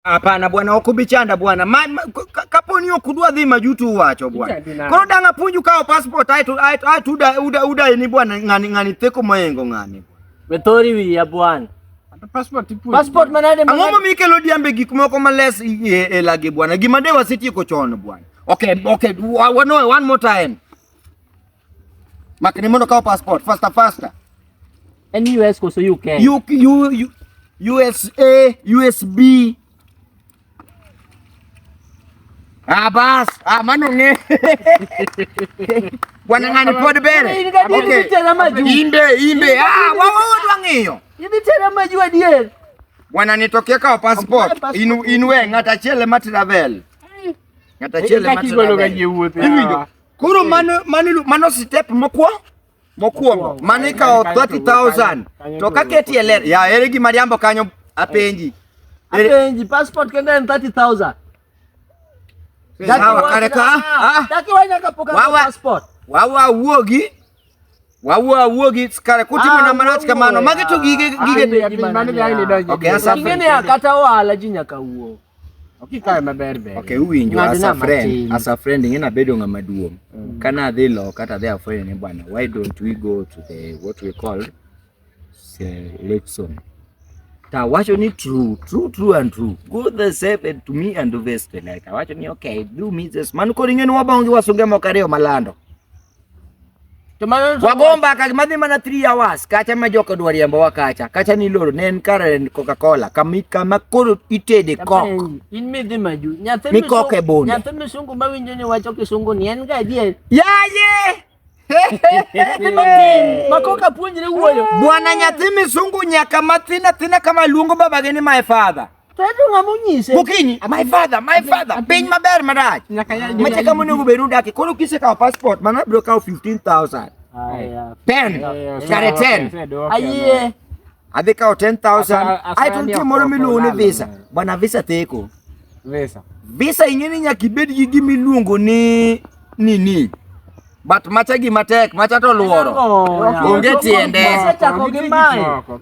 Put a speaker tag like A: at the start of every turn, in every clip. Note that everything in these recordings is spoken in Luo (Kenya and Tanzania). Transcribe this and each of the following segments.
A: Hapana bwana, okubichanda bwana man kaponi ok udwa dhi majutu uwacho bwana. Koro dang' apuonju kawo passport aeto aeto aeto uda uda uda ni bwana ng'ani ng'ani theko moyengo ng'ani. Wethori wiya
B: bwana. Passport ipuonju.
C: Passport manade manade. Ang'o
B: momiyo ikelo diambe
A: gik moko males e, e lagi bwana. Gima de wasetieko chon bwana. Okay, okay. One, one more time. Makni mondo kaw passport faster faster. En
B: US koso UK? U, U, U, USA,
A: USB. Ah bas, ah mano ng'e. Bwana ng'ani pod bere. Okay. Imbe, imbe. Ah, wa wa wa ng'iyo. Idhi tera maju
B: adier. Bwana nitokee
A: kaw passport. Inu inwe ng'ata chele ma travel. Ng'ata chele ma travel. Iwinjo. Koro mano mano mano step mokwongo mokwongo mano ikawo 30000 to ka keti e ler ya ere gima riambo kanyo apenji apenji
B: passport kende en 30000 Sawa
A: kare ka ah. ah. Daki
B: wanyaka poka passport. Wawa wuogi
A: Wawuo awuo gi kare kutimo ah, na marach kamano. Magi to gige ah, gige de gi mano ga ni donjo. Okay, asa. Gige ne kata ohala
B: ji nyaka wuo. Okay, kare
C: maber ber. Okay, uwinjo asa
A: friend, asa friend ngina bedo ngama duong. Mm. Kana adhi lo kata adhi afwenyo ni bwana, why don't we go to the what we call selection tawacho ni true true true and true go the seven to me and vest like tawacho ni okay do me this man koro ing'eni wabongi wasunge moko ariyo malando wagomba ka madhi mana 3 hours kacha ma joko dwa riembo wa kacha kacha ni loro ne en kare coca cola kama kama koro itede kok in mi dhi maju
B: nyathi mi koke bonde
A: nyathi mi sungu ma winjo
B: ni wacho kisungu ni en ga adier yaye Makoka puonjre wuoyo. Bwana nyathi
A: misungu nyaka mathin athina kama luongo babage ni my father. Tatu ng'ama onyise.
B: Gokinyi, my father,
A: my father. Piny maber marach. Nyaka ya. Mache kama onego bed udaki. Koro kise kawo passport mana bro kawo 15000. Aya. 10. Kare 10. Ayie.
B: Athi kao 10000
A: aituntie moro miluongo ni visa. Bwana visa theko. Visa. Visa ing'eni nyaka ibed gi gima iluongo ni nini? But macha gi matek, macha to luoro. Onge tiende.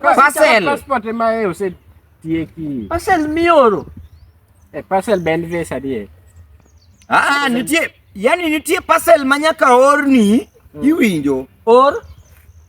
A: Parcel.
C: Passport ma e ose tieki. Parcel mioro.
B: Eh, parcel
C: ben visa die. Ah, ah nitie,
A: yani nitie parcel ma nyaka orni, hmm. iwinjo. Or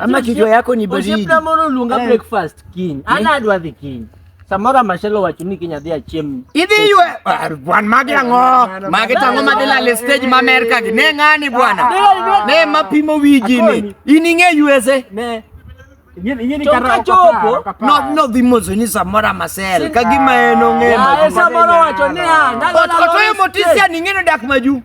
B: Ama kichwa yako
A: ni baridi. Ojepna mono lunga eh.
B: breakfast king. Eh. Ana adwa the king. Samora mashelo wacho ni kinya dhia chiem. Idhi ywe ah,
A: bwan magi ango. Magi tango madila le stage ma America gi. Ne ngani bwana. Ah. Ne mapimo wiji ni. Ining'e USA.
C: Ne. nodhimosoni
A: samoro amasel kagima en
B: ong'eotoyo
A: motisia ning'eno dak maju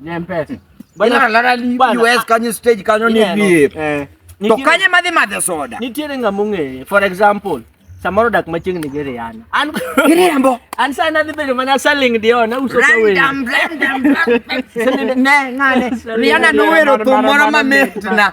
A: Ni mpesa.
C: Bana lara
A: li US kanyo stage kanyo ni VIP. Eh. To kanye madhi madhe soda. Nitiere ng'ama ong'eye.
B: For example, samoro dak machiegni gi Rihanna. An Riambo. An
A: sa nadhi bedo
B: mana saling dio na uso ka wewe. Random random.
A: Ne ngane. Rihanna nowero thum moro mamit na.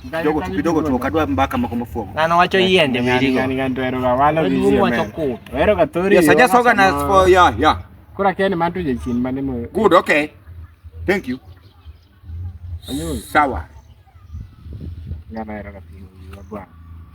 A: kidogo tu kidogo tu ukadwa mbaka mako mafuogo na no wacho yiende
B: mirigo ni ganto ero ga walo
C: gi yiende wacho ku ero ga tori yes i just organize for
A: yeah yeah kura ken mantu
C: je chin mane mo good okay
A: thank you
C: sawa ngana ero ga pingo bwana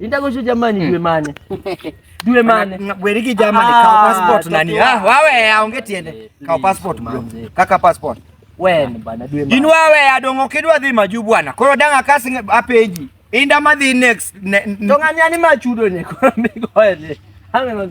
B: Indagocho jamani hmm. dwe mane? Dwe mane? Ngabweriki jamani ah, kawo
A: passport nani? Ah, wawe aonge tiende. Eh, kawo passport ma. Kaka passport. Wen ah, bana
B: dwe mane? In wawe adongo kidwa
A: dhi maju bwana. Koro danga kasi apeji. Inda madhi next. Ne, to ng'ani ani
B: machudo ne koro migoye. Ang'e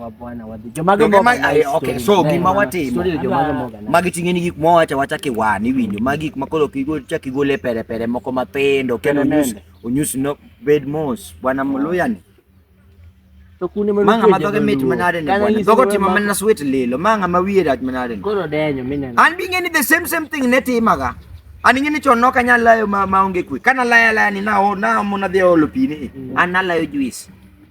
B: wa bwana wa jomago mo eh, okay so
A: gima eh, watimo magi ting'e ni gik mwa wacha wacha ki wan iwinjo ma gik ma koro kigo cha kigole pere pere moko matindo kendo onyus onyus no bed mos bwana muluya ni to kune mano manga madoge mit manade ni bwana dogo timo mana sweet lilo manga ma wiye rach manade ni koro denyo mineno
B: an bi ng'eni the same
A: same thing ne timaga an ing'eni chon nok anyal layo ma onge kwe kana laya laya ni na na mona dhi olo pi ni mm. an nalayo juice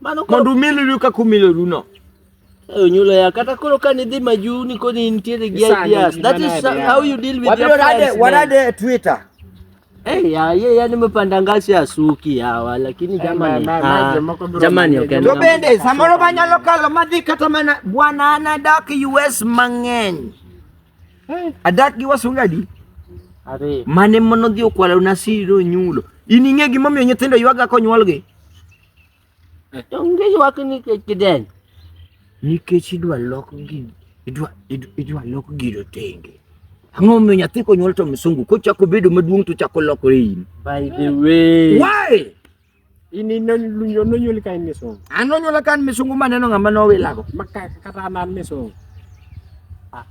A: Mano mondo
B: umilru kaka
A: umiloru no. Onyulo
B: ya kata koro ka nidhi maju ni koni nitiere gi ideas. That is how you deal with your friends. Warade Twitter.
A: Eh, ya
B: ye yani mepanda ngasi ya suki hawa lakini eh, jamani ah, jamani okay. To bende samoro
A: manyalo kalo madhi kata mana bwana ana dak US mang'eny. Eh. Adak gi wasunga di. Are.
B: Mane mono dhi
A: okwala una siro nyulo. In ing'e gimomiyo nyithindo ywaga konyuolgi?
B: To nikech wak nikech kidenyo. Nikech
A: idwa lok gino, idwa idwa lok gino tenge. Ang'o miyo nyathi konyuol to msungu kochako bedo maduong' to chako lokore in. By the way.
B: Why?
A: Ini
C: nonyuol ka in misungu. An nonyuol ka an misungu
A: maneno ng'ama nowilago. Makata an
C: misungu.